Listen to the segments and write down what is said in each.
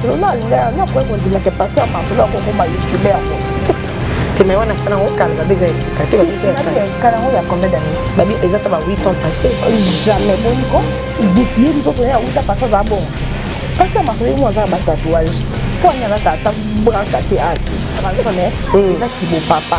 selona alinga yango akoki kondima ke pasteur masolo akokoma youtube yango teme wana asala yango kala babi eza esika te kala yango ya combien d'année babi eza ta ba 8 ans passé jamais boni ko ye nzoto ya uta pasteur aza bongo pasteur masolo ye mo aza na ba tatouage mpo anyalaka ata brakase ake transone eza kibo papa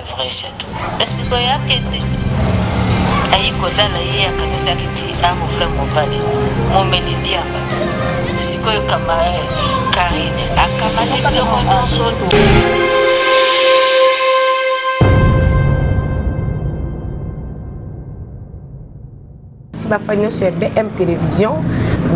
Vrai jaloux. Mais sikoyo akende ayi kolala ye akanisaki ti ako vrai mobali momeli diamba sikoyo kama eh Carine akamati biloko nionso. si bafani nyonso ya bm télévision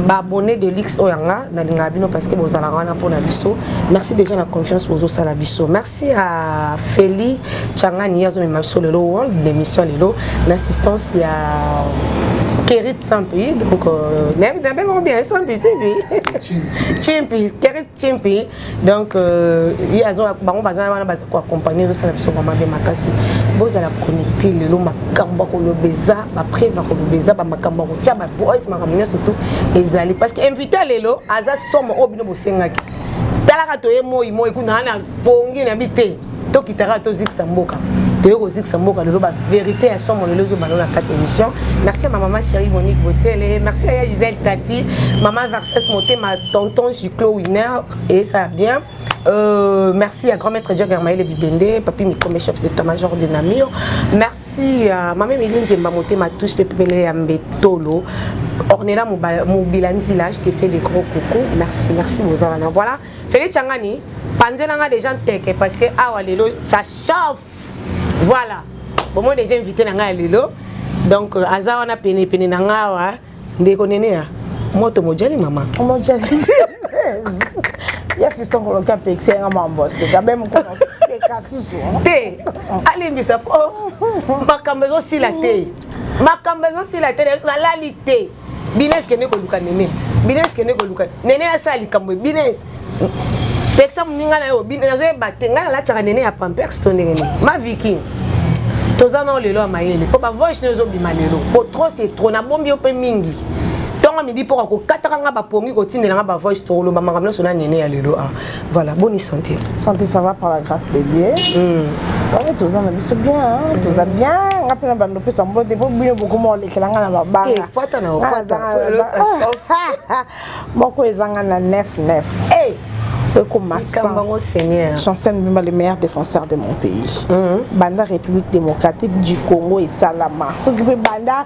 baabonné de luxe oyo yanga nalingaka bino parce que bozalaka wana mpo na biso merci déjà na confiance bozosala biso merci à feli changani ye azomema biso lelo world d'émission lelo na assistance ya Kerit Sampi, donc euh, bien, c'est lui. Chimpi, Kerit Chimpi, donc euh, ye azo bango baza wana baza koaccompagne ezosala biso vraimen de makasi bozala connecte lelo makambo ya koloba eza bapreve ya koloba eza bamakambo ya kotya bavoice makambo nyonso tu ezali parce que invité lelo aza somo oyo bino bosengaki talaka toye moi moi kuna ana pongi na bi te tokitaka tozikisa mboka toye kozikisa mboka lelo baverité ya somo lelo ezobanda na kati ya émission merci ya mamama chéri monique botele merci ya gisele tati mama verses motema tonton giclo winner eyesa bien Euh, merci à grand maître Jack Hermaël Bibende, papi Mikome, chef d'état-major de Namur. Merci à Mamé Miline Zemba Motema, tous Pepele Ambetolo, Ornella Mobilanzila, je te fais des gros coucou. Merci, merci Mozarana. Voilà. Feli Changani, panzela nga deja nteke parce que awa lelo ça chauffe. Voilà. Bon moi déjà invité na nga lelo. Donc euh, aza wana pene pene na nga awa ndeko nene ya moto mojali mama. Mojali. ya fiston koloki apekisi yanga mamboste kabe mokolo seka susu te alimbisa po makambo ezosila te makambo ezosila te nalali te bines kende koluka nene bines kende koluka nene asala likambo bines pekisa moninga na yo nazoyeba te ngai nalatisaka nene ya pampers to ndenge nini maviki toza nao lelo ya mayele mpo bavoice nayo ezobima lelo mpo trop se trop nabombi yo mpe mingi ntongo midi mpo kakokataka ngai bapongi kotindela ngai bavoice tokoloba makambo nyonso na nene ya lelo a ah. Voilà, bonne santé. Santé, ça va par la grâce de Dieu. Mm. Ouais, tous en abus bien, hein? Mm. tous en bien. nga mpe na bando opesa mbote mpo bino bokoma olekela nga na mabangapata na opata moko ezanga na 99 hey! ekoma sango seigneur chancel mbimba le meilleur défenseur de mon pays mm -hmm. banda république démocratique du congo esalama soki mpe banda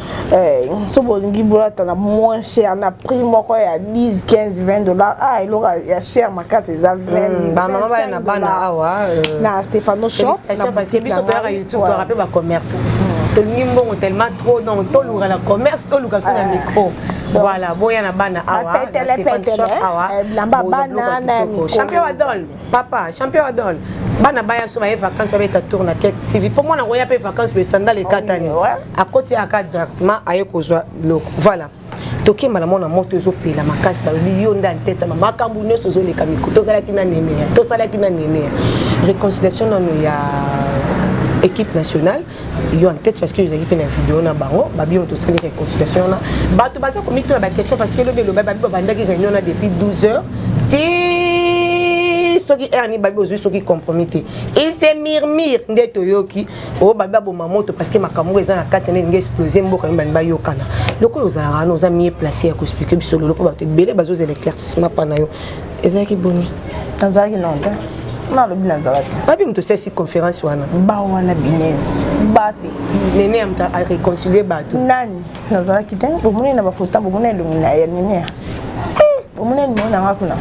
Eh, so bolingi bolata na moins cher na prix moko ya 10 15 20 dollars ah eloko ya cher makasi eza 20 bamama baya na bana awa euh, na stephano shop biso toyaka youtube toyaka mpe bacommerce hmm. tolingi mbongo tellement trop donc toluka na commerce toluka so na eh. micro voilà boya na bana awa na stephano shop awa eh, bilamba bana na micro champion adol papa champion adol bana baya so baye vacances babeta tour na ket tv mpo mwana koya mpe vacances boye sandale ekatani akoti yaka directement aye kozwa biloko voilà tokemba na mwana moto ezopela makasi balobi yo nde antete ma makambo nyonso ozoleka miko tozalaki na neneya tosalaki na neneya réconciliation nano ya équipe nationale yo en tête parce que ozalaki mpe na video na bango babino tosali reconsultation wana bato baza komituna baquestion parce que elobi eloba babi babandaki réunion na depuis 12 heures ti soki heure nini babi ozwi soki compromis te il se murmure nde toyoki oyo oh, babi baboma moto parce que makambo eza na kati na elingi explose mboka mibani bayokana lokola ozalaka wana oza mie place ya koexplike biso loloko bato ebele bazozela éclaircissement mpa na yo ezalaki boni nazalaki nao te nalobi nazalaki babi moto osalisi conférence wana ba wana binese basi nene ya moto areconcilie bato nani nazalaki te bomoni na bafoto bomoni elongi na ya nenea bomoni elongi nanga kuna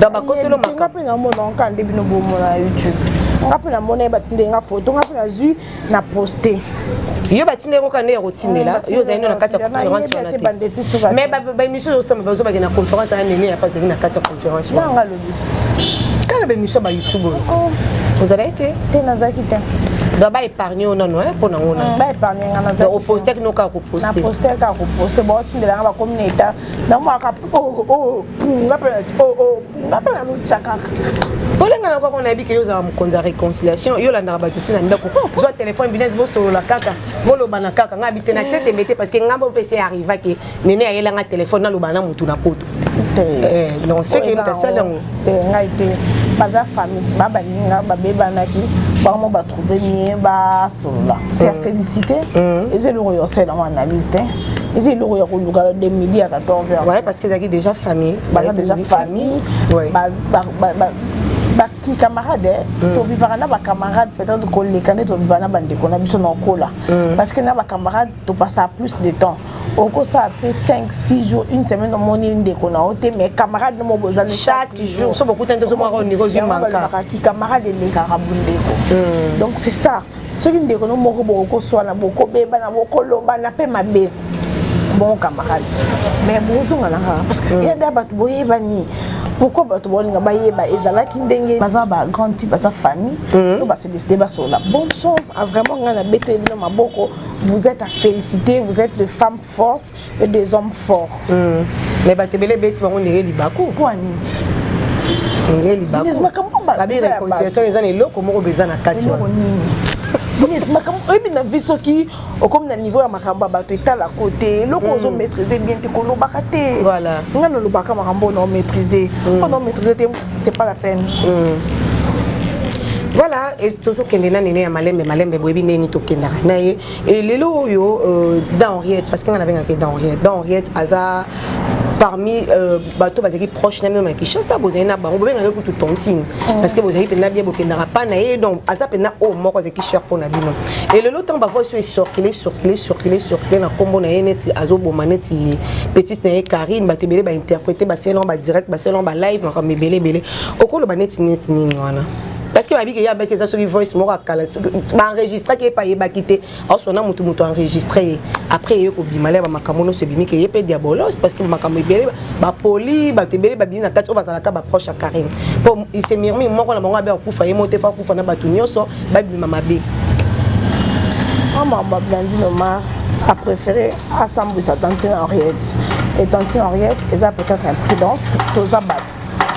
donc bakoselo makambo mpe namonaka nde bino bomona youtube nga mpe namona ye batindeli nga foto nga mpe nazwi na poste yo batindeli koka nde ya kotindela yo ozali nde na kati ya conférence wana te mais baémission ozosamba bazobake na conférence aya nene ya bazali na kati ya conférence wana kala baémission ba youtube oyo oh. ozalaki te te nazalaki te donc ba épargne yo nano mpo na ngona mm, ba épargne nga na donc oposte kino kaka koposte na poste kaka koposte baotindela nga bakomi na eta namonaka o oh, o oh, nga mpe nati o o nga mpe nazotya kaka olenga na koko nayebi ke yo ozala mokonzi ya réconciliation yo olandaka bato si na ndako zwa telefone binese bosolola kaka bolobana kaka nga bite na tie tembe te parce que nga mpe mpe se arriva ke nene ayela nga telefone naloba na motu na poto eh, non seke tasali yango ngai te baza famille ti babaninga babebanaki bango batrouve mie basolola se ya mm. félicité mm. eza eloko yosela yango analyse te eza eloko ya koluka na de midi ya 14 heures ouais, parce que ezalaki déjà famille baza déjà famille bakicamarade mm. tovivaka na bacamarade peut-être koleka nde tovivaka na bandeko na biso na okola mm. parce que na bacamarade topasaka plus de temps okosala mpe 5 6 jours une semaine omoni ndeko na yo te mais camarade nomo bozali chaque jour so bokutani tozomwaka ondeko ozwi manka kicamarade elekaka bondeko mm. donc c'est ça soki ndeko no moko bokokoswana bokobebana bokolobana mpe mabe bon camarade mais bozonga na kaka parce que yada bato boyebani pourquoi bato baolinga bayeba ezalaki ndenge baza ba grande type baza famille mm. so basedeside basolola bonne chance ah, vraiment ngai nabeteli bino maboko vous êtes à féliciter vous êtes de femme forte et des hommes forts mm. mais bato ebele ebeti bango ndenge libaku kwani ndenge libakubabi réconciliation eza na eloko moko mpe eza na kati wana oyebi na vie soki okomi na niveau ya makambo ya bato etala ko te eloko mm. ozo maîtrise bien te kolobaka te nga nalobaka makambo oyo nao maîtrise mm. mpo nao maîtrise te c'est pas la peine mm. voilà tozokende na nene ya malembe malembe boyebi ndenge nini tokendaka na ye et lelo oyo euh, dans Henriette parce que nga nabengaka dans Henriette dans Henriette aza parmi euh, bato bazalaki proche na mino na kinshasa bozali na bango bobengaki kutu tontine mm. parce que bozali mpenza bien bokendaka mpa na ye donc aza mpenza oyo moko azalaki cher mpo na bino e lelo ntango bavoi so esorkile sorkile sorkile sorkile na nkombo na ye neti azoboma neti petite na ye karine bato ebele bainterprete baselango badirect baselango balive makambo ebele ebele okoloba neti neti nini wana parce que babiki ye abaki eza soki voice moko akala baenregistraki ye mpe ayebaki te aosona motu motu enregistre ye après eye kobima le bamakambo nyonso ebimi ke ye mpe diabolos parce que bamakambo ebele bapoli bato ebele babimi na kati oyo bazalaka baproche ya carine mpo se mirmi moko na bango abe akufa ye moko te fo akufa na bato nyonso babima mabe mama bablandine omar a préféré asambwisa tantine henriette et tantine henriette eza peut-être imprudence toza bato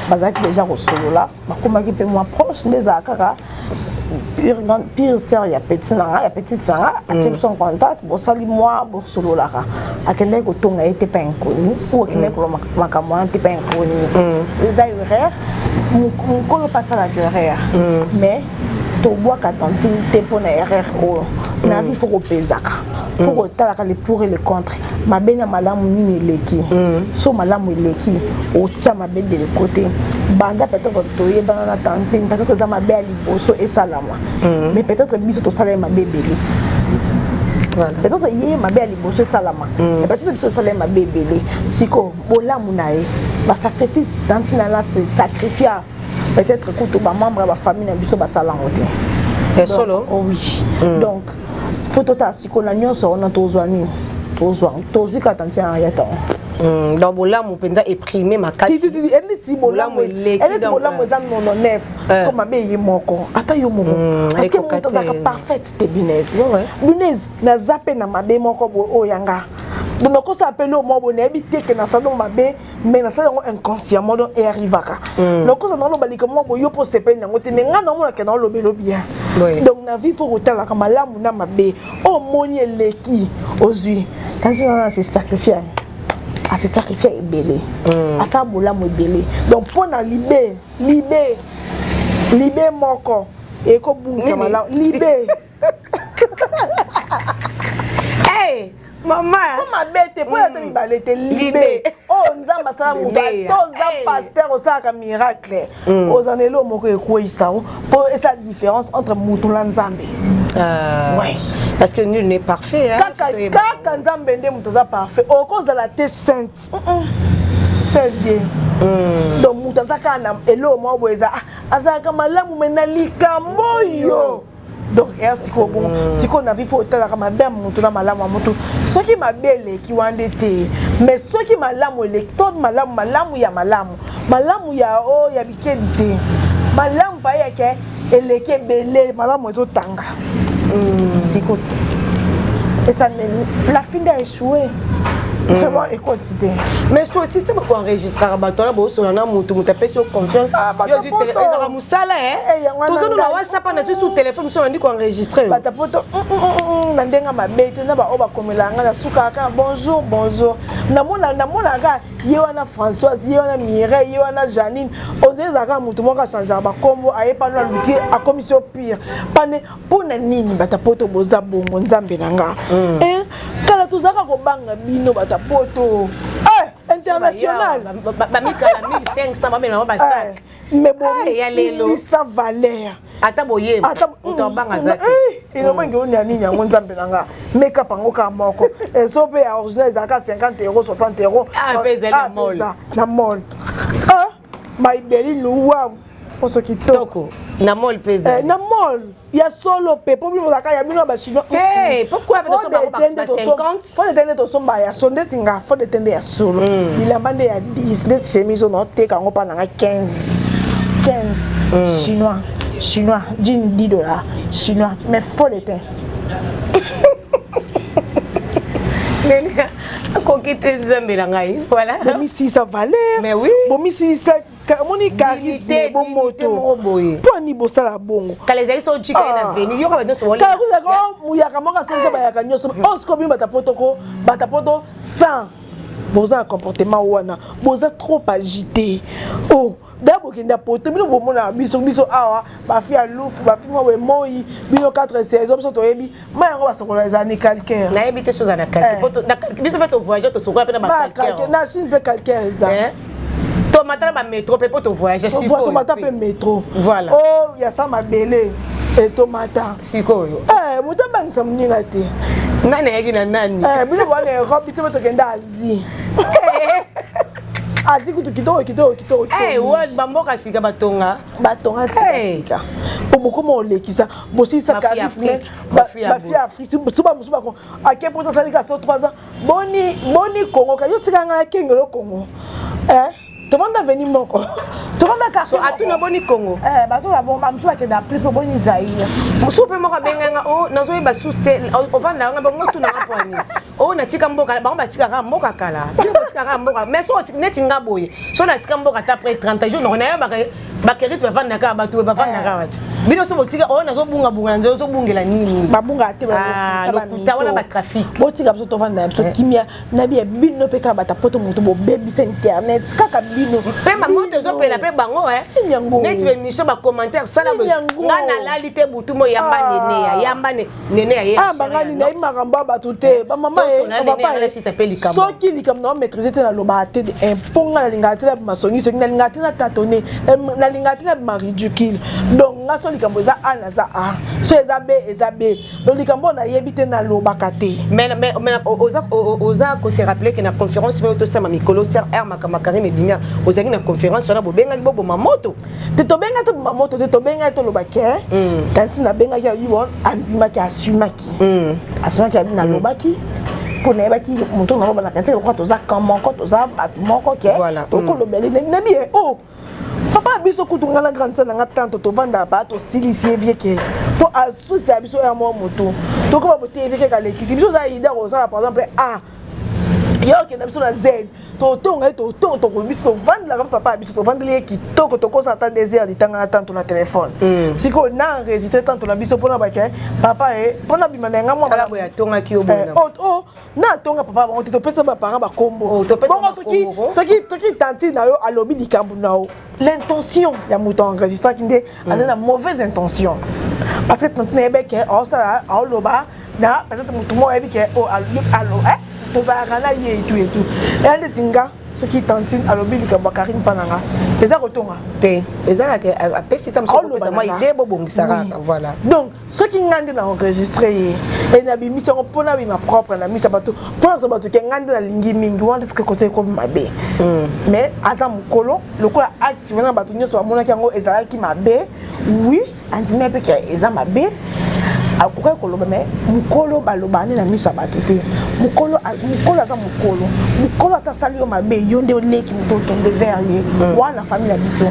bazalaki déjà kosolola bakomaki mpe mwa proche nde ezala kaka pire, grande, pire sœur ya petit na nga ya petite na nga atie biso en contact bosali mwa bosololaka akendaki kotonga ye te pa inconnu ou akendaki koloba makambo wana te pa inconnu eza erreur mokolo mpe asalaka erreur mais tobwaka tantine te mpo na erreur oyo na vie fo kopezaka fo kotalaka le pour et le contre mabe na malamu nini eleki so malamu eleki otya mabe de lekote banda peut-être toyebana na tantine peut-être eza mabe ya liboso esalama mais peut-être biso tosala ye mabe ebele peut-être ye mabe ya liboso esalama peut-être biso tosala ye mabe ebele sikoyo bolamu na ye basacrifice tantine alasi sacrifia peut-être kutu ba membre ya ba famille na biso basala yango te ya solo oh oui mm. donc faut totala sikoyo na nyonso wana tozwa nini tozwa tozwi kata ntina ya ntango mm, donc bolamu mpenza eprime makasieleti bolamu eza nono nef eh. to mabe ye moko ata yo moko mm, parce que moto azalaka parfaite te binese binese naza mpe na mabe moko boye oyo yanga donc nakosala mpe lio moko boye nayebi te ke nasalo mabe mais nasala yango inconsciemment donc eyarrivaka mm. nakoza naloba likambo mwa boyo mpo osepeli yango te mais ngai naomonaka naolobelo bien donc na vie fo kotalaka malamu na mabe oyo oh, omoni eleki ozwi kasi nana na se sacrifie ase sacrifie ebele mm. asala bolamu ebele donc mpo na libe libe libe moko ekobungisa malamu libe hey, mama po mabe te po yata mm. mibale te libe oyo oh, nzambe asala mobali to oza paster osalaka miracle mm. oza na eloo moko ekweisa o po esa différence entre motu na nzambe Euh, ouais. Parce que nul n'est parfait. Hein, kaka nzambe nde moto aza parfait okozala te sainte seul dieu mm. donc moto aza kaka na eloo moko boye eza ah, azalaka malamu me na likambo oyo donc er sikoyo bongo mm. sikoyo na vie fo otalaka mabe ya motu na malamu ya motu soki mabe eleki wana nde te mais soki malamu eleki to malamu malamu ya malamu malamu ya o oh, ya bikedi te malamu bayeke eleki ebele malamu ezotanga mm. sikoyo esa la fin de échouer Mm. vraiment ekoti te mais ce que système ekoenregistraka bato wana boosona na motu moto apesi yo confiance ah, sala eh, eh, toza nuna whatsapp na susu telefone biso nandi koenregistre bata poto mm, mm, mm, na ndenge mabe te na baoyo bakomela ngai na suka kaka bonjour bonjour namonaka ye wana françoise ye wana mireille ye wana janine ozali ezalaka motu moko achangeaka bakombo aye pano aluki akomisi yo pire pane mpo na nini bata poto boza bongo nzambe na nga eh, kala tozalaka kobanga bino bata poto international bamikala 1500 bamela yango basak mais bomisilisa valeur ata boyeba ata moto abanga aza te eh, elobangi oyo ya nini yango nzambe na nga makeup yango kaka moko ezo mpe ya original ezalaka 50 euro 60 euro ah, ah, na mol ah, maibeli luwa poso kitoko na mol mpe ezali eh, na mol ya solo mpe mpo bino bozalaka ya bino ya bachinois eh, fode tende tosomba ya so ndeti nga fode tende ya solo mm. bilamba nde ya 10 ndeti chemise ono oteka yango mpa nanga 15 15 chinois chinois jine 10 dollar chinois mais fode te akoki te nzambe na ngai voilà bomisilisa valeur mais oui bomisilisa omoni charisme bomoto mpo ani bosala bongo kala ezali so jika ye na ah. veni yoka bato nyonso kala kozalaka oh, muyaka moko asenza bayaka nyonso mm. osiko oh, bino bata poto ko bata poto 100 boza na comportement wana boza trop agité o oh, da bokenda poto bino bomonaka biso biso awa bafi ya lufu bafi mwa wemoi bino 4 saison biso toyebi ma yango basokola eza ni calcaire nayebi te soza na calcaire eh. biso mpe tovoyage tosokola mpe na bacalcaire na chine mpe calcaire eza eh. tomata na bametro mpe mpo tovoyage tomata mpe metro voilà o oh, ya sa mabele etomata eh, sikoyo moto abangisa moninga te nani ayaki na nani bino boa na europe biso mpe tokenda asie azi kutu kitoko kitoko kitoko bamboka sika batonga batonga sika sika obokoma olekisa bosilisa charisme bafia afrique suba mosusu bako ake mpo tosali ka so 3 ans boni boni kongo ka yo tika ngai akengelo kongo eh tovanda veni moko tovanda kasi atuna boni kongo eh bato na bongo bamosusu bakenda plus mpo boni zaire mosusu mpe moko abenga nga o oh, nazoyeba susu te ovanda nga bango tuna nga pwani o oh, natika mboka bango batikaka mboka kala batikaka mboka mais so neti nga boye so natika mboka ata après 30 jours noko nayebaka bakerite bafandaka awa bato bafandaka awa te bino so botika oyo nazobungabunga na nzela ozobungela nini babungaka te ah, lokuta wana batrafic botika biso tovanda na biso eh. kimia na biya bino mpe kaka bata poto moto bobebisa internet kaka bino mpe mama tozopela mpe bango eh. neti bemission bacommentaire sala nga nalali te butu mo yamba ah. neneya yamba ne nene aye ah banga ni nayi makambo bato te ba mama eh, soki likambo na maîtriser te nalobaka te eh, mpo nga nalingaka te na masongi soki nalingaka te na tatone eh, nalingaka te na maridicule donc nga so likambo eza a naza a so eza b eza b donc likambo oyo nayebi te nalobaka te oza kose rappele ke na conférence mpe otosama mikolo ser r makambo karine ebimia ozalaki na conférence wana bobengaki boboma moto te tobenga te boma moto te tobenga te oloba ke tantine mm. abengaki alobi bon andimaki asumaki mm. asumaki abi nalobaki mm. mpo nayebaki moto naloba na tantine lokola toza kan moko toza bato moko ke tokolobeli nabi ye o oh, papa biso kutu ngai na grande sœur na ngai tanto tovanda ba tosilisi ye vie ke mpo asusisa biso ya mwa motu tokoma boteyi vie ke kalekisi biso oza idea kozala par exemple a ah, yo okenda biso na z totonga ye totonga tokoki biso tovandelaka mpe papa ya biso tovandeli ye kitoko tokosa ata des heures ditanga na tanto na telefone mm. sikoyo na enregistre tanto na biso mpona bake papa ye mpona bima na yanga mwatongaki yo eh, oh, oh, na atonga papa bango te topesa baparent bakombo oh, bongo soki tanti na yo alobi likambo na yo l'intention ya moto enregistraki nde mm. azali na mauvaise intention parce que tantine ayebi ke aosala aoloba na peut-être motu moko ayebi ke oh, alo eh, tozalaka na ye etu etu eya ndeti nga soki tantine alobi likambo ya karine mpa na nga eza kotonga te ezalaka apesi ta mosuaolobisa mwa ide bobongisa kaka voilà donc soki ngai nde na enregistre ye e nabimisi yango mpo nabima propre na miso ya bato mpo naza bato ke ngai nde nalingi mingi wana eske kote ekomi mabe mm. mais aza mokolo lokola acte wana bato nyonso bamonaki yango ezalaki mabe wi andimi mpe ke eza mabe akokaki koloba me mokolo baloba nde na miso ya bato te mokolo aza mokolo mokolo ata asali yo mabe yo nde oleki moto okende vers ye mm. wana famille ya biso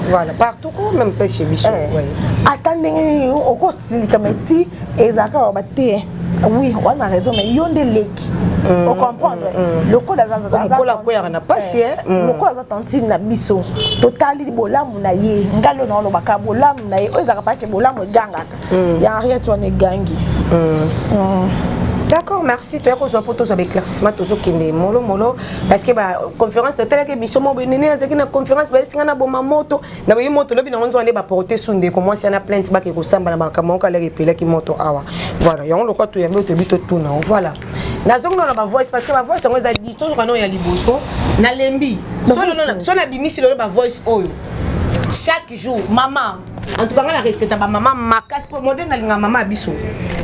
Oh, même pas chez biso eh, ouais. ata ndenge nini okosilika mai ti ezalaka baba te oui wana raison mais yo nde leki mm, ocomprendre mm, mm. lokola azakola akweyaka na mpasi eh, eh. lokola aza tantine na biso totali bolamu na ye ngai lona olobaka bolamu na ye oyo ezalaka pake bolamu egangaka mm. ya henriette wana egangi mm. mm. d'accord merci toya kozwa mpo tozwa baéclaircissement tozokende molomolo parce que baconférence totalaki émission moko benene azalaki na conférence bayesi ngai naboma moto na boyi moto lobi nango nzwa nde baporte su ndeko mwasi ana plainte bake kosamba na makambo moko alaki epelaki moto awa voilà yango lokola toyambi oyo toyebi totuna yango voilà nazongi nona bavoice parce que bavoice yango eza dis tozoka nao ya liboso nalembi so nabimisi lelo bavoice oyo chaque jour mama en tout cas nga na respecta ba maman makasi po moderne alinga maman biso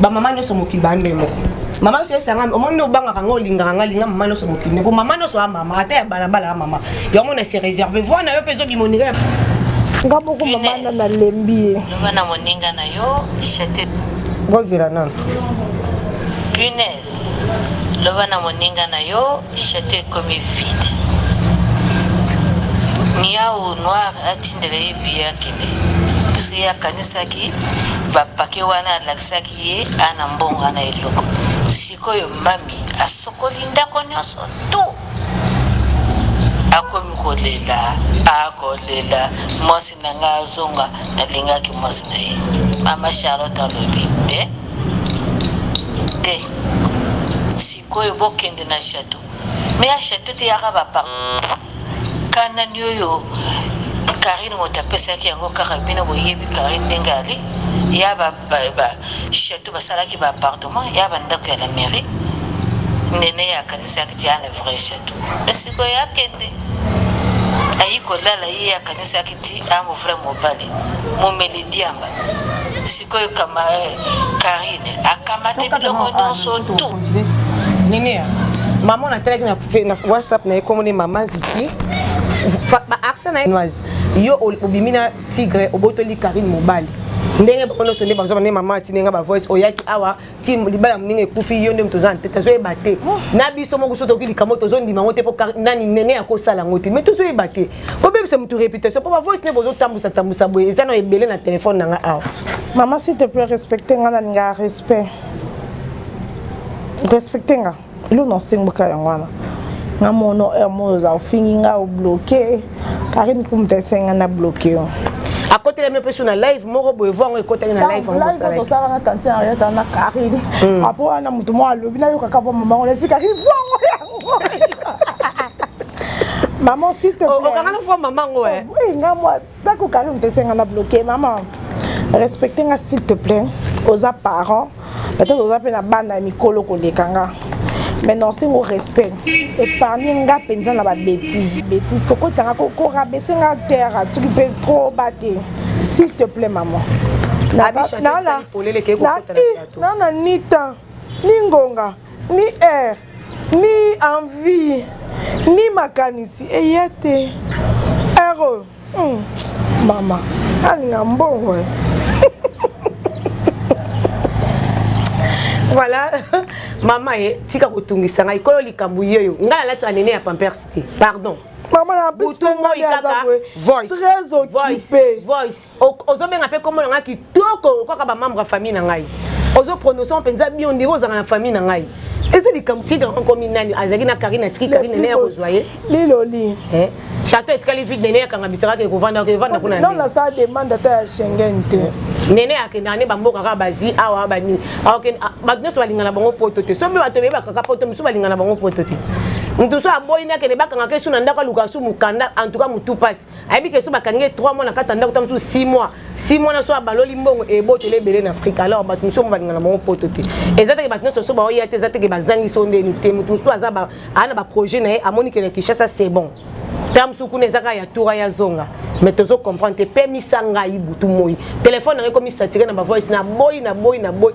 ba maman nyoso mokili ba ndenge moko mama nyonso esanga omoni nde obangaka nga olingaka nga linga mama nyonso mokili po mama nyonso ya mama ata ya balabala ya mama yango na se réserve voi na yo mpe ezobima oninga nga moko mama na nalembi ye loba na moninga na yo chete bozela nano punaise loba na moninga na yo Chateau ekomi vide. Niawu noir atindela ye billet akende puisque ye akanisaki ba paquets wana alakisaki ye a na mbongo a na eloko. Sikoyo mami asokoli ndako nionso tout akomi kolela a kolela mwasi na ngai azonga nalingaki mwasi na ye. Mama Charlotte alobi te. te sikoyo bokende na chateau me ya chateau te yaka bapa kanani oyo karine moto apesaki yango kaka bino boyebi karine ndenge ali ya bachateau basalaki baappartement ya bandako ya la mairie nene akanisaki ti ya le vrai chateau me sikoyo akende ayi kolala ye akanisaki ti yango vrai mobali momeli diamba sikoyo kama eh, karine akamate biloko nyonso tu ninia mama na telaki na whatsapp na ye komone mama viki baarse na ye noise yo obimi na tigre obotoli karine mobali ndenge bango nyonso nde bazwa bane mama atindi nga bavoice oyaki awa ti libala moninga ekufi yo nde moto oza ntete tozoyeba te oh. na biso moko so toki likambo tozondima yango te mpo nani nene akosala yango te mai tozoyeba te kobebisa motu réputation mpo bavoice ne bozotambwisa tambwisa boye eza na ebele na telefone na nga awa mama s'il te plaît respecte nga nalingaka respect respecte nga Luna osengboka yango wana nga mono heure moyo oza ofingi nga obloke karine kumta esenga na bloke yo akotelami mpe so na live moko boye voi yango ekotaki na live yangotosalaka na tantine ariata na karine hmm. apo wana moto moko alobi nayokaka vo mama ngo nasi karine voi yango yango maman s'il te oh, plaît okanga na fois maman ngo eh oh, nga moi Taku Karim tesenga na bloquer maman. Respecte nga s'il te plaît. Oza parent, peut-être oza pe na bana ya mikolo koleka nga. Mais non, c'est mon respect. Épargner nga penza na ba bêtises. Bêtises koko tsanga koko rabaisser nga terre, tu peux trop battre. S'il te plaît maman. Na na na na na ni temps, ni ngonga, ni heure. ni envie ni makanisi eya te heure oyo hmm. mama alinga mbongo eh. voilà mama ye eh, tika kotungisa ngai kolo likambo yeyo ngai nalatisa nene ya pampers te pardon mama na butu moi kaka voice très occupé voice ozobenga mpe kombo na ngai kitoko kaka bamembre ya famille na ngai ozo prononce mpenza bio ndenge ozalaka na famille na ngai eza likambo tika okomi nani azalaki na karine atiki karine nene ya kozwa ye liloli eh? chateau etikali vide nene akanga bisakaka ekovanda evanda kuna non nasala demande ata ya schengen te eh? nene akendaka nde bamboka kaka bazi awa bani ah, bato nyonso balingana bango poto te soki bato beyebaka kaka poto mosusu balingana bango poto te moto so aboyi nde akende bakangaka esu na ndako aluka su mokanda antuka motu mpasi ayebi ke so bakangi ye 3 mois na kati ya ndako ta mosusu 6 mois 6 mois na so abaloli mbongo eboteli ebele na afrika alors bato mosusu yango balingana bango poto te eza teke bato nyonso so baoya te eza teke bazangi so ndeni te moto mosusu aza aa na baprojet na ye amoni ke na kinshasa c'est bon ta mosusu kuna eza kaka ya tura ya zonga mais tozo comprendre te pemisa ngai butu moi telefone yango ekomi satire na bavoice na boyi na boyi na boyi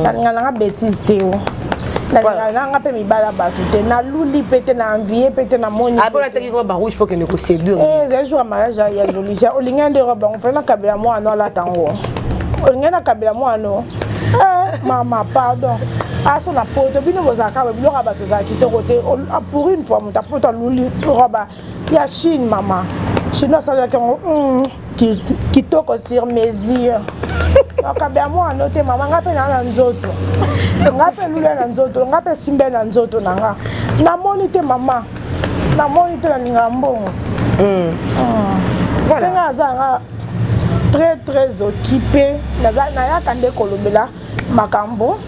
nga nanga betise te o nanga mpe mibala bato te naluli mpe te na envie mpe te namoni apona ataki robe ya rouge mpo kende koseduire eh, ezali jour ya mariage ya jolicia olingai nde robe yango fali nakabela mwana alata yango olingai nakabela mwana eh, mama pardon aso na poto bino bozalaka biloko ya bato ezala kitoko te ah, pour une fois moto apoto aluli robe ya chine mama chinois asalelaki yango hmm, kitoko sur mesure makambo ya mwana te mama nga mpe naa na nzoto nga mpe lula na nzoto nga mpe simbe na nzoto na nga namoni te mama namoni te nalingaka mbongo hmm. hmm. ndenge aza nga très très occupé nayaka nde kolobela makambo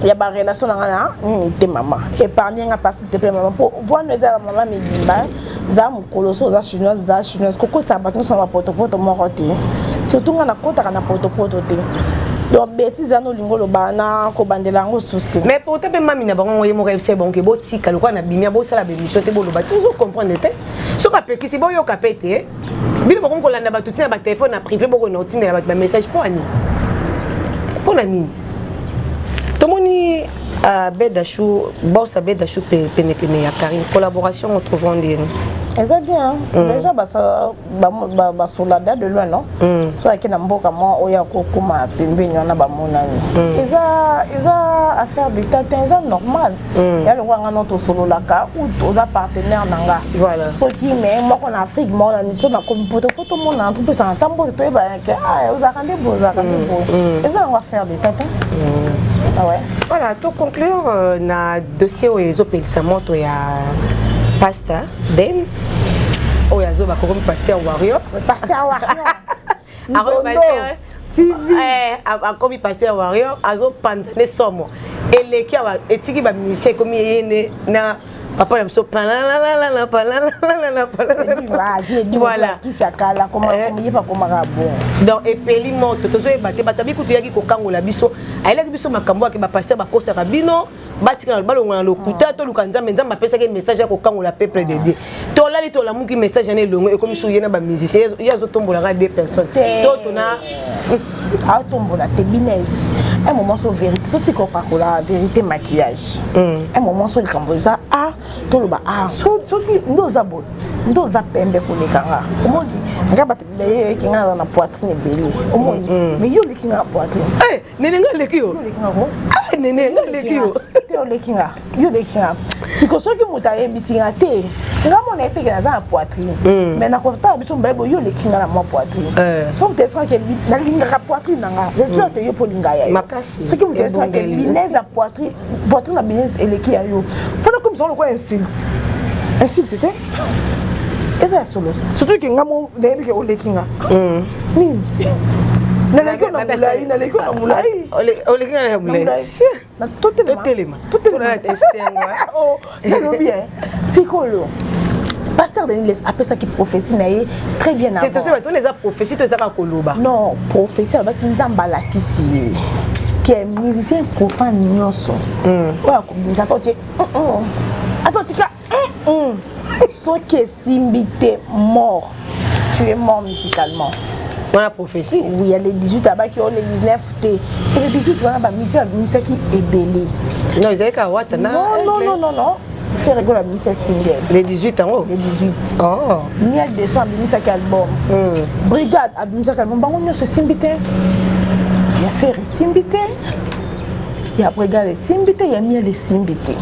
ya ba relation nanga na nini te mama épargne nga pasi te pe mama po voino eza ya mama mibimba za mokolo so oza chinoise za chinoise kokotisa bato nyonso na bapotopoto moko te surtout nga nakotaka na potopoto te donc betise wana olingi oloba na kobandela yango susu te mais pourtant mpe mami na bango yango ye moko ayebisa ye bango botika lokola na bimia bosala bemission te boloba te ozo comprendre te soki apekisi boyoka mpe te bino bokomi kolanda bato ntina ba telefone na privé bokona kotindela bato bamessage mpo ani mpo na nini tomoni uh, bedachou bosa bedachou penepene ya karine collaboration on trouvant ndeni eza bien mm. déjà basolada de loin non mm. so ayaki na mboka mwa oyo akokoma pembeni wana bamonani mm. eza affaire d'état te eza normal mm. ya lokola nga no tosololaka oza partenaire na nga voilà. soki me moko na afrique moko na miso nakomi poto fo tomonana topesana ntango bote toyebana ke ah, ozalaka nde boye ozalaka nde mm, boye mm. eza yango affaire de tata mm. ah ouais. voilà to conclure euh, na dossier oyo ezopelisa moto ya pasteur ben oyo azoba kokomi pasteur warrior pasteur warrior eh, akomi paster warrior azopanza nde somo eleki awa etiki bamusicien ekomi ye nde na papa na biso palalalala palalalala palalalala donc epeli moto tozoyeba te bato abi kutu yaki kokangola biso ayelaki biso makambo yake bapaster bakosaka bino batikala balongo na lokuta toluka nzambe nzambe apesaki message ya kokangola peuple de dieu tolali tolamuki message yana elongo ekomi soki ye na bamusicien ye azotombolaka deux personnes to tona aotombola te binese un moment so vérité totika opakola vérité maquillage hmm. un moment so likambo eza a toloba a soki nde oza boye nde oza pembe koleka nga omoni nga bato yeyeki nga na poitrine ebele omoni mais yo oleki nga na poitrine eh! nene nga aleki yo ah, nene nga aleki yo te oleki nga yo oleki nga siko soki moto ayebisi nga te nga mona ye peke naza na poitrine hmm. mais nakotala biso mobali boye yo oleki nga na mwa poitrine eh. soki moto esaki nalingaka poitrine na nga j'espère te yo mpo olinga ya yo soki moto esaki linaise ya poitrine voiture na bino eleki ya yo fona komisa ngo lokola insulte insulte te eza ya solo surtout ke nga mo nayebi ke oleki nga hmm. nini naleki na molai naleki na molai oleki na molai totelema totelema esengo nalobi eh, sikoyo pasteur denis les apesaki prophétie na ye très bien avanttosobatoni eza prophétie to eza kaka koloba non prophétie alobaki nzambe alakisi ye ke musicien profane nyonso hmm. oyo akobimisa to tie ata otika soki Simbi te mort. Tu es mort musicalement. wana prophétie oui ya le 18 abaki o le 19 te et le 18 wana bamisi abimisaki ebele non ezalaki kaka wata na non non non non ferre gola abimisa single le 18 yango le 18 oh miel de son abimisaki album hmm. brigade abimisaki album bango nyonso esimbi te ya ferre esimbi te ya brigade esimbi te ya miel esimbi te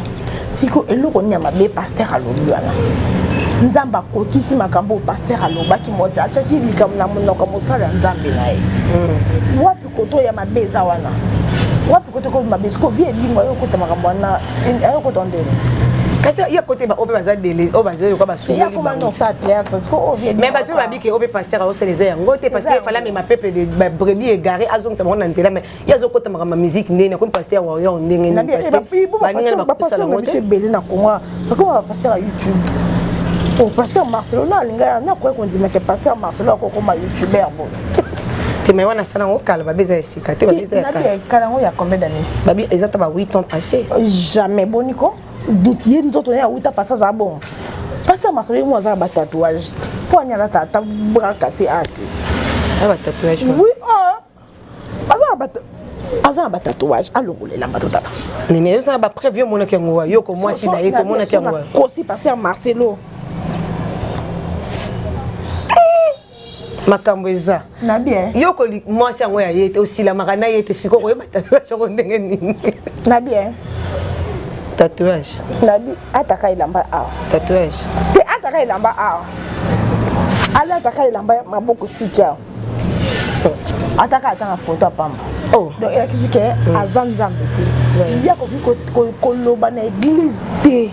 siko eloko nini ya mabe paster alobi wana nzambe akokisi makambo oyo paster alobaki moja atyaki likambo na monoko ya mosala ya nzambe na ye mm. wapi koto ya mabe eza wana wapi koto ekomi mabe siko vie elingo ayo okota makambo wana ayo okota ndeni kasi ya kote oyo mpe baza dele oyo baza yoka basungolime bato babiki oyo mpe paster aosala eza yango te paster efala mema peuple de brebis egare azongisa bango na nzela mai ye azokota makambo ya miziki ndenge nakomi paster ya warrior ndenge ninibaningana bakosala yango te ebele na kongo bakoma bapaster ya youtube oh, paster marcelo na alinga ya nakoki kondima ke paster marcelo akokoma youtuber bo te mai wana asala yango kala babi eza ya sika te babi eza ya kala yango ya combien d'année babi eza ta ba 8 ans passé jamais boni ko ye nzoto naye awuta pasi azala bongo pasi ya marcelo ye mo azala batatouage te mpo anyalata ata brakase ate oui aza na batatouage alongolela bato tala nene yozala bapreve yo omonaki yango wa yoko mwasi na ye tomonaki yango kosi paster marcelo makambo eza yo mwasi yango ya ye te osilamaka na ye te sikoyo koyeba tatouage yango ndenge nini na bien tatouage nabi ataka elamba awa tatouage te ataka elamba awa alataka elamba maboko suki awa ataka ata na foto ya pamba oh. donc elakisi ke mm. aza nzambe te ye akoki koloba na eglise te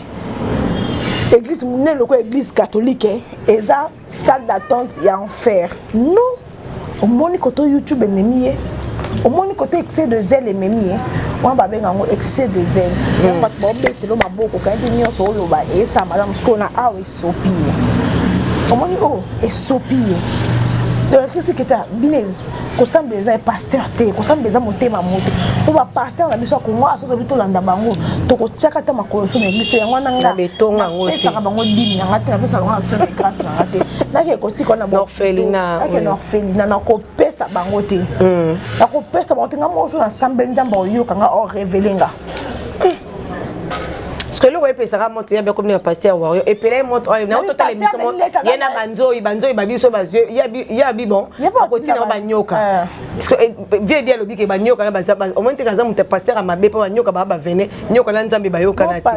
eglise monene lokola eglise catholique eh, eza salle d'attente ya enfer non omoni koto youtube ememi ye omoni koto excès de zele ememi ye wana babenga yango excès de zele yango mm. bato baobetelo maboko kaniki nyonso oloba esala malamu sikoyo na awa esopi ye omoni oyo oh, esopi ye tolakisi kita bino kosambela eza pasteur te kosambela eza motema moto mpo bapasteur na biso ya kongo aso tobi tolanda bango tokotiaka ata makolo so na eglise to yango wana ngapesaka bango dimi na nga te napesa bango action de grâce na nga te nake kotika na boake na orphelina nakopesa bango te nakopesa bango te nga moko so nasambeli nzambe oyoka nga orevele nga parceke eloko epesaka moto ya biakomi na paster wario epelai moto oyo na ototala emission mo ye na banzoi banzoi babiso bazwi ya bibon akotina ngo banyoka eh. eh, vie ebi alobi ke banyoka na baza omoni teke aza moto ya paster ya mabe mpo banyoka baa bavene nyoka na nzambe bayokana te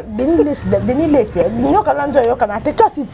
eh, nyoka na nzoi ayokana te kasi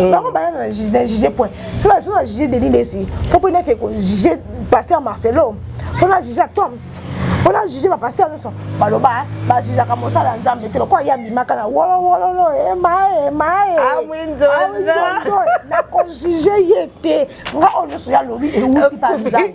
Euh. bango baya na juge point so na so na juge denis lesi fo mpo nake kojuge pasteur marcelo mpo na juge toms mpo na juge bapasteur nyonso baloba bajujaka mosala ya nzambe te lokola ye abimaka na wolowololo emae emae nakojuge ye te nga oyo nyonso ya lobi euti banzambe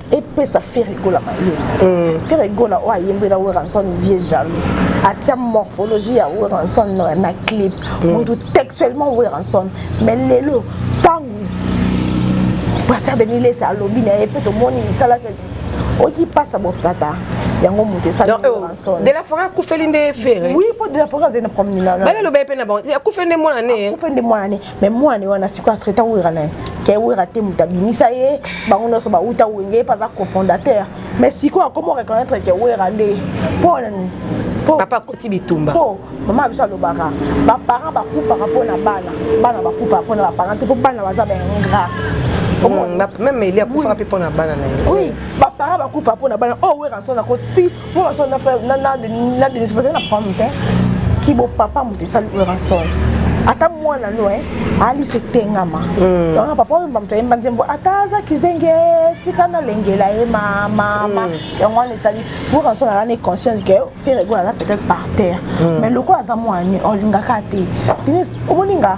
epesa Ferre Gola mayele mm. Ferre Gola oyo ayembela Werrason vieux jaloux atia morphologie ya Werrason na clip mm. mutu textuellement Werrason mais lelo ntango pasteur Denis Lesa alobi na ye mpe tomoni misala oki pasa botata yango moto esalidela eh, fora akufeli nde fere oui mpo dela fora azali na problème na babe aloba ye mpe na bango akufeli nde mwana ne akufeli nde mwana ne me mwane wana sikoyo atraita wera na ye ke wera te moto abimisa ye bango nyonso bauta wenge ye mpe aza cofondateur mais sikoyo akomi oreconnaitre ke wera nde mpo nani papa akoti bitumba po mama biso alobaka baparent bakufaka mpo na bana bana bakufaka mpo na baparent te mpo bana baza baingra hmm, meme eli akufaka mpe mpo na bana na ye oui baparent bakufaka mpo na bana oyo oh, weranson akoti Pour l'instant, na frère, na na na de se poser la problème hein. Qui beau papa mon ça le rançon. Ata mwana no hein, ali se tengama. Mm. Donc papa mba mtu yemba nzembo ata za kizenge tika na lengela ye mama mama. Donc on sali pour rançon na ne conscience que faire ego na peut-être par terre. Mm. Mais loko aza mwana olingaka te. Dinis omoninga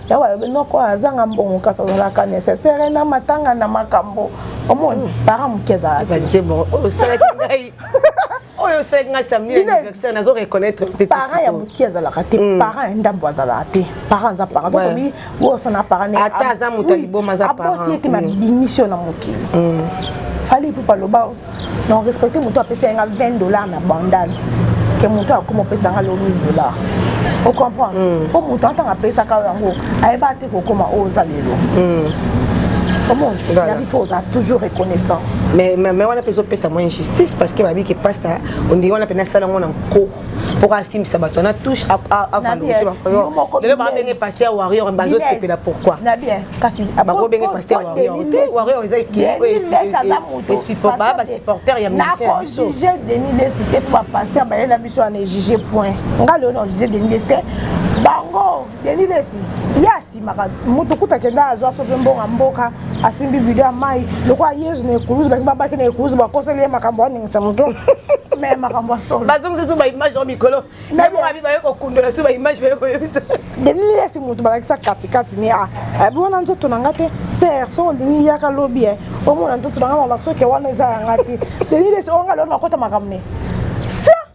yango alobi noko azanga mbongo kasi azalaka nécessaire na matanga na makambo omoni mm. para moke ezalakaosalaki oh, ngai oyo osalaki ngai samedi na anniversaire nazo reconnaître te parent ya moke azalaka te mm. parent ya ndambo azalaka te parent aza parent donc obi osana parent ata aza moto ya liboma aza parent aboti ete mabimisi yo na mokili fali ipupa loba na respecte moto apesa yanga 20 dollars na bandal ke moto akoma opesa nga lo 1000 dollars ocomprendre mm. po moto antanga apesaka yango ayeba te kokoma oyo oza lelo mm. omoni voilà. il faut oza toujours reconnaissant mais mais wana mpe ezopesa mwa injustice parce que babi ke pasta ondenge wana mpe nasala yango na nko mpo asimbisa bato na touche avalorize baoyolelo babenge pasi ya warrior bazosepela pourquoi bakobenge pasi ya warrior te warrior eza ekiiaa basupporter ya musicien denis lesi te mpo bapaster bayela biso wana ejuge point nga lelo na juge denis lesi te bango denis lesi yes simaka moto kuta kenda azwa soki mbongo mboka asimbi bido ya mai lokola yezu na ekulusu balingi babaki na ekulusu bakoseli ye makambo aningisa moto me makambo ya solo bazongisi susu baimage ya mikolo nabokabi baye kokundola susu baimage baye koyebisa denilesi moto balakisa katikati ni a abi wana nzoto na nga te ser so olingi yaka lobi e omona nzoto na nga na baksoke wana eza ya nga te denilesi oyo nga lelo nakota makambo ne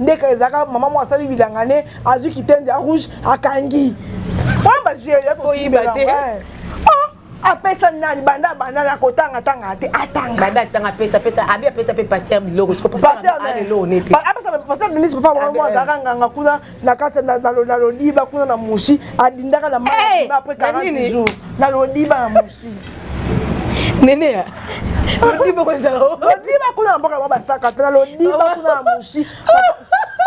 ndeka ezalaka mama moko asali bilanga ne azwi kitende ya rouge akangi wana bazieli ya koyiba te apesa nani banda banda na kotanga tanga te atanga banda tanga apesa apesa abi apesa pe pasteur biloko siko pasteur ale lo nete apesa pasteur Denise papa mwa mwa zaka nganga kuna na kata na na lodiba kuna na mushi adindaka na mama après 40 jours na lodiba na mushi Neneya. Lodiba ko ezala. Lodiba kuna na mboka ba basaka tala lodiba kuna na mushi.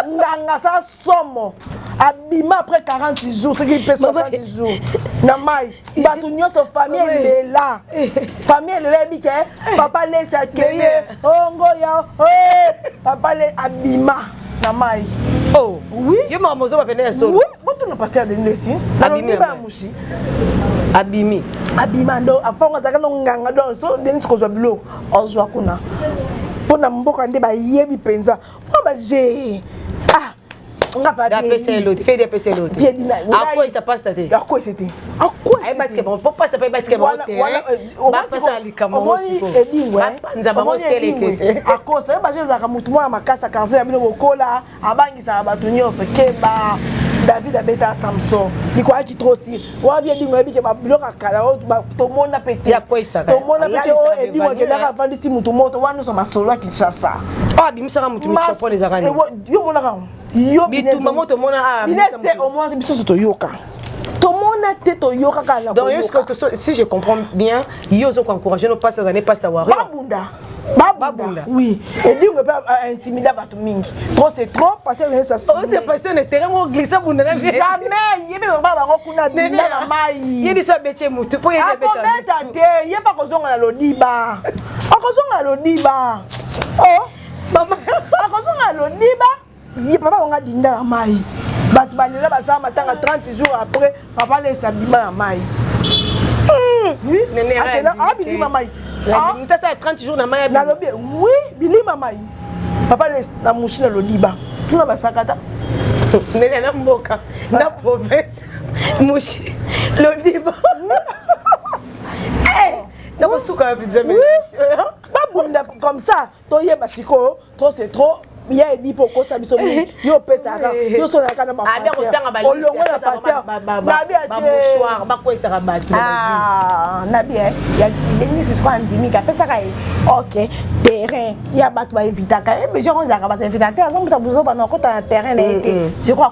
Nganga sa somo. Abima après 40 jours, ce qui peut 60 jours. Na mai, bato nyonso famille elela. Famille elela ebi ke papa lesi akende. Ongo ya. Papa le abima. na mai oh oui yo mama mozo ba pende ya solo oui botu na pasteur de ndesi na bimi ba mushi abimi abima ndo aponga zaka no nganga do so de nsi kozwa bilo ozwa kuna mpo na mboka nde bayebi mpenza mpo baje ah apesa eloti fedi apesa eloti akoyisa pasta te akoyisa te akoyisa te ayebatika bango mpo pasta mpe ayebatika bango te bapesa likambo yango sikoyo edingwe eh? bapanza bango selekete akosa ye bazo ezalaka motu mwana makasi ya quartier ya bino bokola abangisaka bato nyonso keba david abeta samson likwaki trosi wabi edingo yebike babiloko ya kala oyo tomona mpe te tomona mpe te oyo edingo akendaka avandisi motu moto wana nyonso masolo ya kinshasa abimisaka motu michopole ezaka yo monaka yango yo bitumba moto mona a bilete omona biso so toyoka tomona te toyoka kaka na donc jusque si je comprends bien yo ozoko encourager nos pasteurs années pasteur warrior babunda babunda oui edingo mpe intimida bato mingi trop c'est trop pasteur na terrain moko glisse abunda na jamais ye mpe baba bango kuna bunda na mai ye biso abeti ye motu mpo yebeta te ye mpe akozonga na lodiba akozonga na lodiba oh akozonga lodiba ye papa bango adinda na mai bato balela basala matanga 30 jours après papa alesa abima na mai abilima mai mutasala 30 jours na mai nalobi wi bilima mai papa alesa na musi na lodiba tuna basakata nene na mboka na province musi lodiba nakosuka na pizza babunda comme ça toyeba sikoyo trop c'est trop ya edi mpo okosa biso mingi yo opesaka yo solaka na baolongo na pasterbakwesaka bato nabi denisisiko andimika apesaka ye ok terrain ya bato baevitaka ye besoin kozalaka bato evitaka te azombuta buzoba na okota na terrain na ye te siko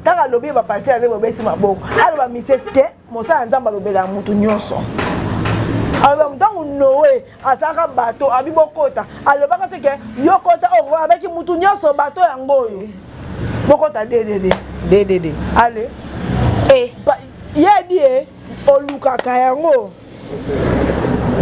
ntango alobi ba pasteur azali bobeti maboko aloba mise te mosala ya nzambe alobelaka motu nyonso aloba ntango noe azalaka bato abi bokota alobaka te ke yo kota oh, abaki motu nyonso bato yango oyo bokota dedede dedede ale eh. ye adi e olukaka yango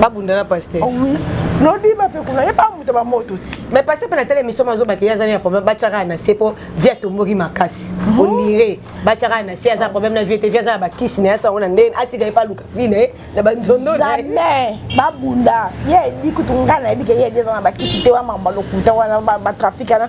babunda na pasteur oh oui nodiba mpe kuna ye bamuta bamoto ti mais pasteur mpe na tala émission mazobaki ye azali na problème batyaka na se mpo vie atomboki makasi mhm. ondire batyaka na se aza na problème na vie te vie aza na bakisi na ye asango na ndenge atika ye mpe aluka vie na ye na banzondo jamais babunda ye ebi kutu ngai nayebi ke ye edi aza na bakisi te wa mamba lokuta wana batrafic wana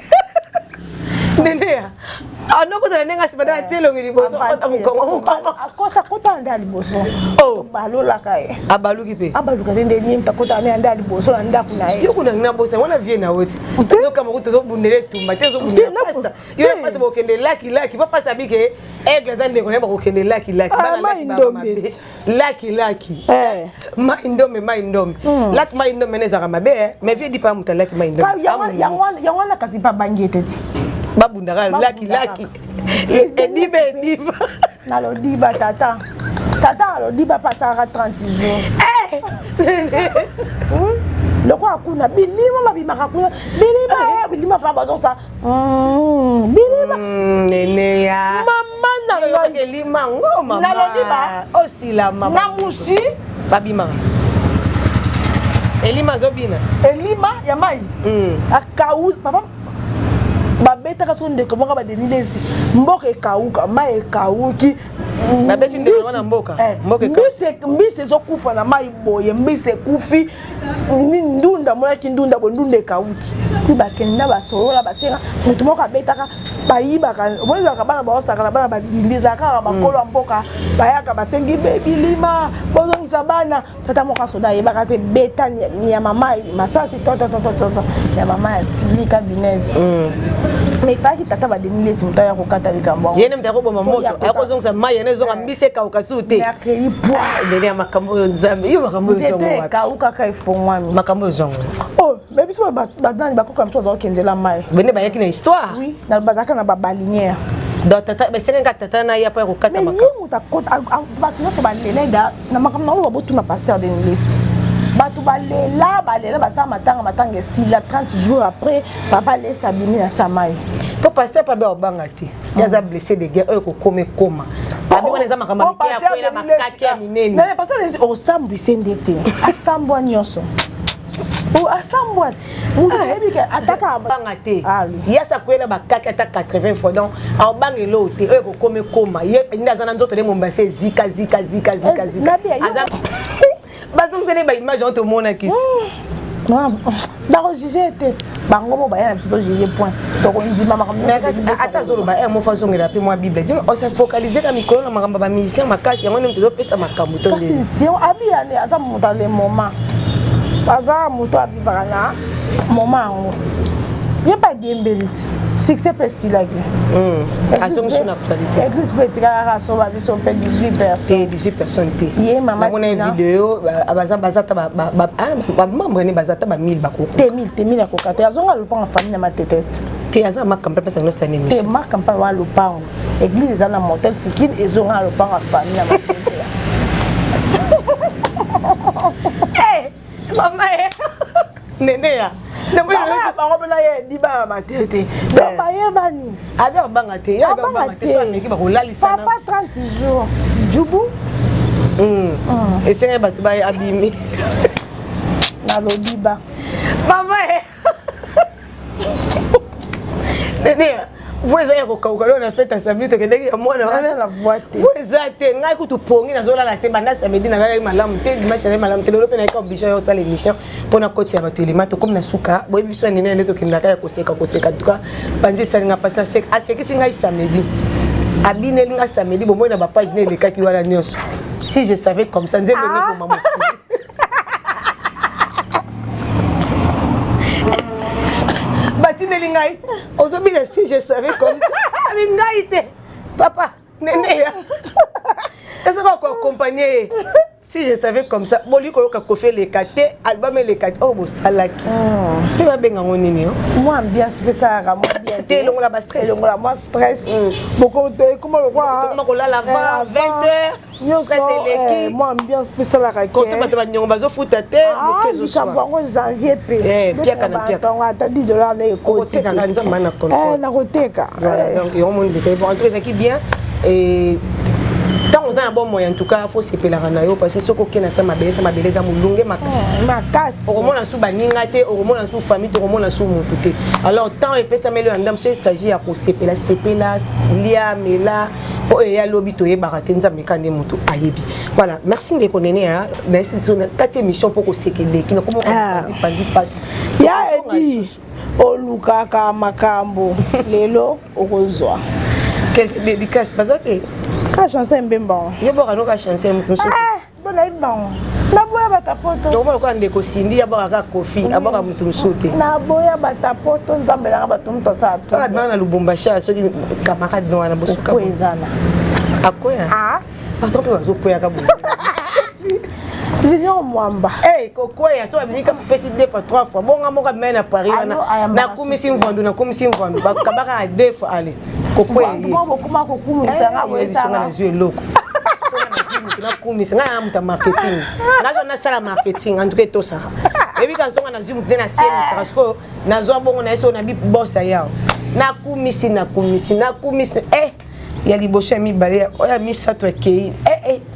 Neneya anokota na ndenge asima nde atie elongi liboso kota mokongo mokongo akosa kota nde liboso oh. balolaka ye abaluki mpe abaluka te nde nyemta kota ne anda liboso na ndako na ye yo kuna na bosa wana vie na woti tozokama kuti tozobundela etumba te tozobundela pasta yo na pasta bokende laki laki pa pasta abike aigle aza ndeko na ye bakokende laki laki bana laki baba mabe laki laki eh. mai ndombe mai ndombe hmm. laki mai ndombe nezaka mabe eh. mais vie dit pas moto laki mai ndombe yango wana kasi babangi ete ti babundaka laki laki ediba ediba na lodiba tata tata na lodiba apasaka 30 jours eh. hmm? lokola kuna bilimo babimaka kuna bilimo bilimo pa bazosala Mm, bilima mm, neneya mama na ngailima ngo mama nalobi ba osila mama na musi babimaka elima azobina elima ya mai mm. akau papa babetaka so ndeko moko badenilesi mboka ekauka mai ekauki mbisi ezokufa na mai boye mbisi ekufi ndunda monaki ndunda bo ndunda ekawuki ti bakenda basolola basenga moto moko abetaka bayibaka omoni ezalaka bana baosaka na bana badindi ezalaka kaka bakolo ya mboka bayaka basengi bebilima bozongisa bana tata moko asoda ayebaka te beta ya mama masasi tototototo ya mama ya silika binese mm. mais efalaki tata badenilesi moto aya kokata likambo yango ye nde moto akoboma moto akozongisa mai yanezonga esi ekauka su te mercredi pwa ah, ndenge ya makambo oyo nzambe yo makambo oyo zongo wapi ekaukaka efongwami makambo oyo zongo oh mais biso badani bakoka mosusu bazalaki kendela mai bene bayaki na histoire oui bazalaka na babalinière donc tata esengaki kaka tata na ye mpo ya kokata makambo ye moto akota bato nyonso balela da na makambo na oyo babotuna pasteur denilesi bato balela balela basala matanga matanga esila 30 jours après papa lesi abimi na samai mpo paster pabe obanga te ye aza blessé de guerre oyo kokoma ekoma abi wana eza makambo mike ya kwela makaki ya minene osambwise nde te asambwa nyonso asambwa atakabanga te yasi akwela bakaki ata 80 fois donc aobanga eloo te oyo kokoma ekoma ye nde aza na nzoto nde mombasi ezika zika zika zika zika bazongisa nde baimage yango tomonaki ti bakojuge te bango mo baya na biso tojuge point tokondima makamboata azoloba e mofa azongela mpe mwa bible dino osa focalise ka mikolo na makambo ya bamusicien makasi yango nde moto ezopesa makambo to abiya nde aza moto ale moment aza moto avivaka na moment yango ye mpe adiembeli ti succès mpe esilaki hmm. azongi so na actualité église mpe etikalaka soba biso mpe 18 personnes 18 personnes te ye mama namona ye video baza baza ta ba ah, membre ne baza ta ba 1000 bako te 1000 te 1000 akoka te azonga lopanga famille na matetete te aza maka mpe pesa ndosa nemi te maka mpe wa lopango église eza na motel fikine ezonga na lopango ya famille na matetete eh! mama ye eh. nene ya bango mpena ye libaa matete donc bayebani abi abanga te ye abi abanga te so ameki bakolalisana papa 30 jours jubu hmm. hmm. esengai bato baye abimi nalobi ba mama ye eh. Nenea, vo eza ya kokauka lona fete assembli tokendeki ya mwana wana vo eza te ngai kutu pongi nazolala te banda samedi nalalaki malamu te dimanche nazali malamu te lelo mpe nayeka oblige ya osala émission mpo na kotisa bato elema tokomi na suka boyebi biso ya nene nde tokendaka ya koseka koseka tuka panzi esali ngai mpasi naseka asekisi ngai samedi abineli ngai samedi bomoi na bapage na elekaki wana nyonso si je savais comme ça nzembo ah! nekoma mokili batindeli ngai ozobina si je savais comme ça abi ngai te papa neneya ezaka koakompagne ye si je savais comme ça boli koyoka kofi eleka te album eleka te oyo oh, bosalaki mpe oh. babenga yango nini yo oh? mwa ambiance mpe esalaka mwa bien te elongola ba stress elongola mwa stress mm. bokoekoma lokola kolala 20 eh, heures bato banyongo bazofuta te motebango ah, janvier mpepiaka na piakaata 10 dollar na ekotekaka nzamba na eh, nakoteka eh. donc yango moni ezalaki bien ntango oza na bomoi en tout cas fo osepelaka na yo parce soki okei na sa mabele sa mabele eza molunge makasi makasi okomona su baninga te okomona su famille te okomona su motu te alors ntango epesameli yo ya ndambo soki esagi ya kosepela sepela lia mela po eye alobi toyebaka te nzambe ka nde moto ayebi voilà merci ndeko nene ya kati émission mpo kosekeleki nakomopanzi mpasi ya edi olukaka makambo lelo okozwa quelque dédicace baza te ka chanson mbemba yo boka noka chanson moto mosusu Bona imbango. Naboya batapoto. Donc moi quoi ndeko Cindy abaka ka kofi, abaka mutu musute. Naboya batapoto nzambe na bato mutu asala tout. Kaka bana Lubumbashi soki camarade no wana bosuka. Ko ezana. Akoya. Ah. Patron pe bazo koya ka boye. junior mwamba hey, kokweya so abimi kaka pesi deux fois trois fois bonga moko abimai na paris wana nakumisi mvandu nakumisi mvandu bakabaka na deux fois ale kokweyeezwi eloko nakumisa ngai na moto ya marketing nazwa nasala marketing antuka etosaka eyebi kazonga nazwi moto nde nasemisaka sikoyo nazwa bongo na ye soko na bi bos ayao nakumisi nakumisi nakumisi e eh, ya liboso ya mibale oyo ya misato akei e eh, e eh.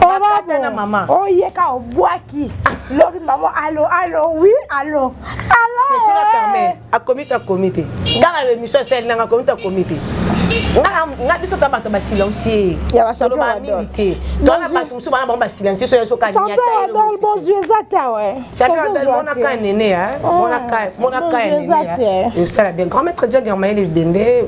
Bakata na mama. Oyeka obwaki. Lobi mama alo alo oui alo. Alo. Tetuna eh. Carmen akomi ta komite. Kaka le mission sel nanga komi ta komite. nga biso ta bato basilencie toloba mingi te tona bato mosusu bana bango basilencie soya soka nyataozwi eza te awemonaka nene monaka nene osala bien grand maître jagermaele bibende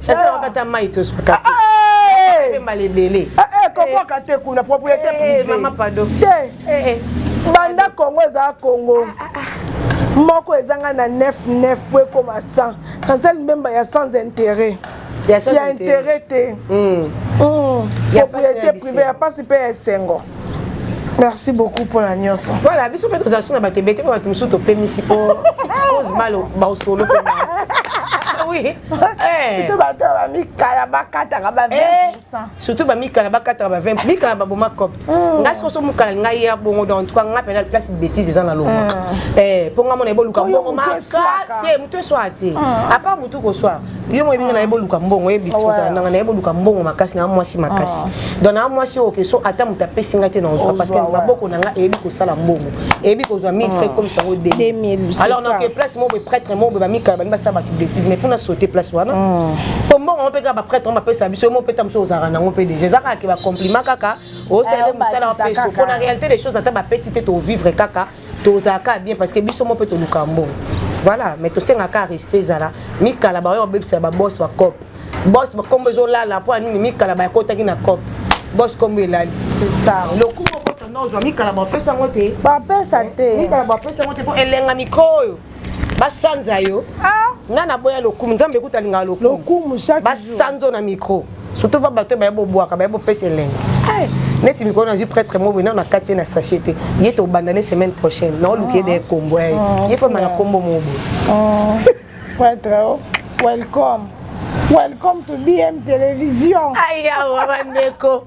Sasa ah. wapata mai to spaka. Ah, ah, eh. Mbale bele. Eh, eh, kokoka te kuna propriété eh, privée. Mama pardon. Te. Eh, eh. Banda Congo eza Congo. Ah, ah, ah. moko ezanga na 99 po ekoma 100 sasa limbemba ya sans intérêt ya intérêt te hmm. Hmm. propriété privée ya mpasi mpe ya esengo merci beaucoup mpo na nyonso voilà biso mpe tozala so na bato ebete mpe bato mosusu topemisi mpo sitpose malo baosolo mpe oui eh. surtout bato ya bamikala bakataka ba 20 eh, surtout bamikala bakataka ba 20 mikala baboma copte hmm. ngai sokoso mokala ngai ya bongo donc tuka ngai mpena place betise eza na loma mpo hmm. eh, ngai mona eboluka bongo makate moto eswa te hmm. apart motu koswa yo moyebi nga naye boluka mbongo oyebi ti kozala nanga naye boluka mbongo makasi na mwasi makasi ah. donc na mwasi oyo keso ata moto apesi nga te na ozwa parce que maboko na nga eyebi kosala mbongo eyebi kozwa 1000 frais ah. comme sango 2000 alors donc place moko prêtre moko bamikala bani basala bato bêtise mais fona sauter place wana ah. po mbongo yango mpe kaka baprêtre yango bapesa biso yo moko mpe ta mosusu ozalaka nango mpe déjà eza kaka ke bacompliment kaka osalele eh, mosala mpe so mpo na réalité des choses ata bapesi te tovivre kaka tozala kaka bien parce que biso moko mpe toluka mbongo voilà mais tosengaka kaka respect ezala mikala baoyo babebisa babos bacop bos bakombo ezolala mpo ya nini mikala bayakotaki na cop bos kombo elali lokumu okosa nozwa mikala bapesa yango te bapesa te mikala bapesa yango te mpo elenga mikro oyo basanza yo ah. nga naboya lokumu nzambe kuta alingaka lokumu basanzo na micro surtout ba bato baye bobwaka baye bopesa elengi eh. neti mikolo nazwi prêtre mobo nano nakati ye na sachet te ye tobanda ne semaine prochaine naoluki ye de ekombo ya ye ah, ye fama na kombo mobo ah. prêtre oh, welcome welcome to bm television ayawa bandeko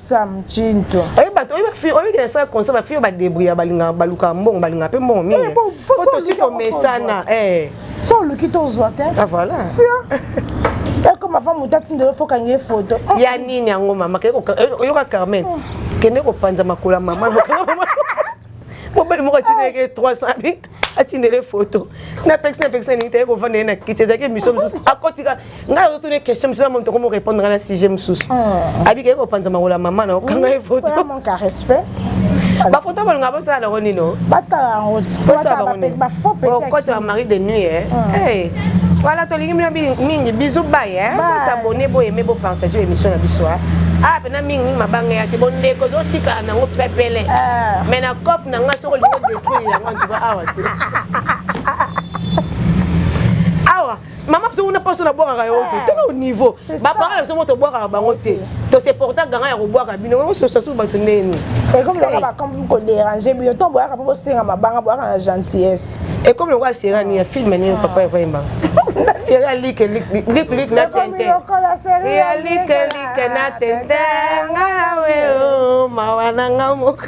Sam Chinto. Oye bato oye bafi oye kina sa concert ba fi ba débrouiller balinga baluka mbongo balinga pe mbongo mingi. Eh, bon, faut Poto solution, sito mesana. Eh. So oluki tozwa te. Ah voilà. ekoma va moto atindela ofokangi ye foto ya nini yango mama kende ko- eh, oyoka carmen kende kopanza makolo ya mama mobali moko atindeke 300 bi atindele foto napekisi napekisi alingi te ye kovanda ye na kiti ezalaki emission mosusu akotika ngai nazotuna ye question mosusu namoni tokomi orépondre ngai na sujet mosusu hmm. abikaki kopanza makolo ya mama na okanga ye foto bafoto bolonga bosala nango nino batalangotikote ya marie de nuit eh. hmm. eh. voilà tolingi bino mingi bisu bay eh. bosabone boyeme bopartage émission na biso ah. ah pena mingi mingi mabanga ya te bondeko ezotikala nango pepele ah. mais na cope na ngai soki olingi odetruire yango antuka awa te mama biso kuna mpaso nabwakaka yango te tala au niveau baparent na biso mo tobwakaka bango te toseporta ganga ya kobwaka bino mososasu bato ndeni ekomi lokola bakomi koderange bino ntongo boyaka mpo bosenga mabanga boyaka na gentillesse ekomi lokola serani ya filme nini papa evayemba seri ya like like like na tente ya like like na tente nga na weo mawa na nga moko